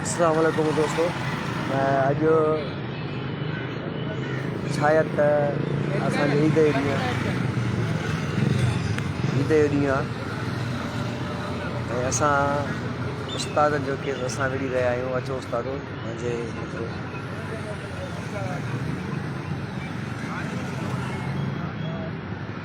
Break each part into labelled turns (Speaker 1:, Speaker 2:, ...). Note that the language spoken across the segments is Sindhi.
Speaker 1: اسلام عليڪم دوستو اڄ شايد ته اسان جي عيد جو ڏينهن عيد جو ڏينهن آهي ۽ اسان استاد جو ڪيس اسان وڙهي رهيا آهيون اچو استاد منهنجي مطلب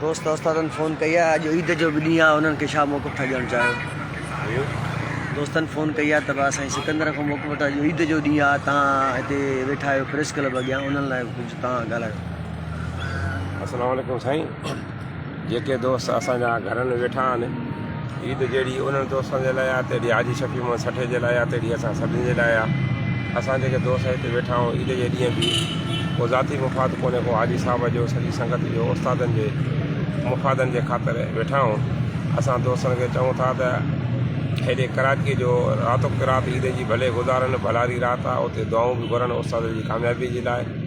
Speaker 1: دوست استادن فون ڪئي آهي اڄ عيد جو به ڏينهن آهي انهن کي ڇا موقف ٿا ڏيڻ چاهيو دوستن فون ڪئي آهي ته بس سائين سڪندر کان موقف وٺو اڄ عيد جو ڏينهن آهي تان هتي ويٺا آهيو پريس ڪلب اڳيان انهن لاء ڪجهه تان ڳالهايو
Speaker 2: السلام عليڪم سائين جيڪي دوست اسان جا گهرن ويٺا آهن عيد جهڙي انهن دوستن جي لاء آهي تهڙي حاجي شفيع محمد سٺي جي لاء آهي تهڙي اسان سڀني جي لاء آهي. اسان جيڪي دوست هتي ويٺا آهيون عيد جي ڏينهن به ڪو ذاتي مفاد ڪونهي ڪو حاجي صاحب جو سڄي سنگت جو استادن جي مفادن جي خاطر ويٺا آهيون. اسان دوستن کي چئون ٿا ته هيڏي ڪراچيء جو راتوڪ رات عيد جي ڀلي گذارن ڀلاري رات آهي اتي دعائون به گهرن استادن جي ڪاميابيء جي لاء.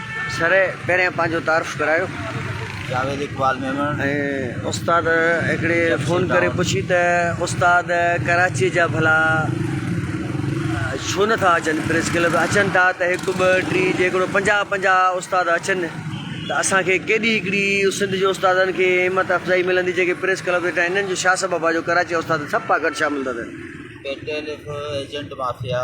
Speaker 3: سر
Speaker 1: پهريان پنهنجو تعارف ڪرايو. جاويد
Speaker 4: اقبال ميمڻ. ۽ استاد
Speaker 1: هڪڙي فون ڪري پڇي ته استاد ڪراچي جا ڀلا ڇو نٿا اچن پريس ڪلب اچن ٿا ته هڪ ٻه ٽي جيڪڏو پنجاهه پنجاهه استاد اچن ته اسان کي ڪيڏي هڪڙي سنڌ جي استادن کي همت افزائي ملندي جيڪي پريس ڪلب ويٺا آهن انهن جو ڇا سبب آهي جو ڪراچي جا استاد سڀ پاڪٽ شامل ٿا ٿين. پيٽيل هڪ
Speaker 4: ايجنٽ مافيا.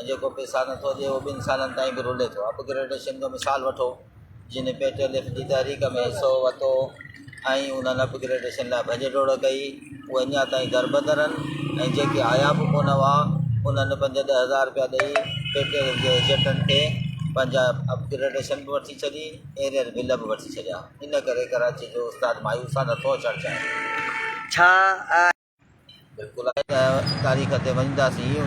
Speaker 4: ۽ جيڪو پيسا نٿو ڏئي اهو ٻن سالن تائين به رلي ٿو اپ گريڊيشن جو مثال وٺو جن پي ٽي ايل ايف جي تحريڪ ۾ حصو ورتو ۽ انهن اپ گريڊيشن لاء ڀڄ ڊوڙ ڪئي اهي اڃا تائين دربدر آهن ۽ جيڪي آيا به ڪونه هئا انهن پنج ڏهه هزار رپيا ڏئي پي ٽي ايل ايف جي ايجنٽن کي پنهنجا اپ گريڊيشن به وٺي ڇڏي ايرير بل به وٺي ڇڏيا ان ڪري ڪراچي جو استاد مايوس آهي نٿو اچڻ چاهي ڇا آهي؟
Speaker 1: بلڪل
Speaker 4: آهي ته تاريخ تي وڃنداسين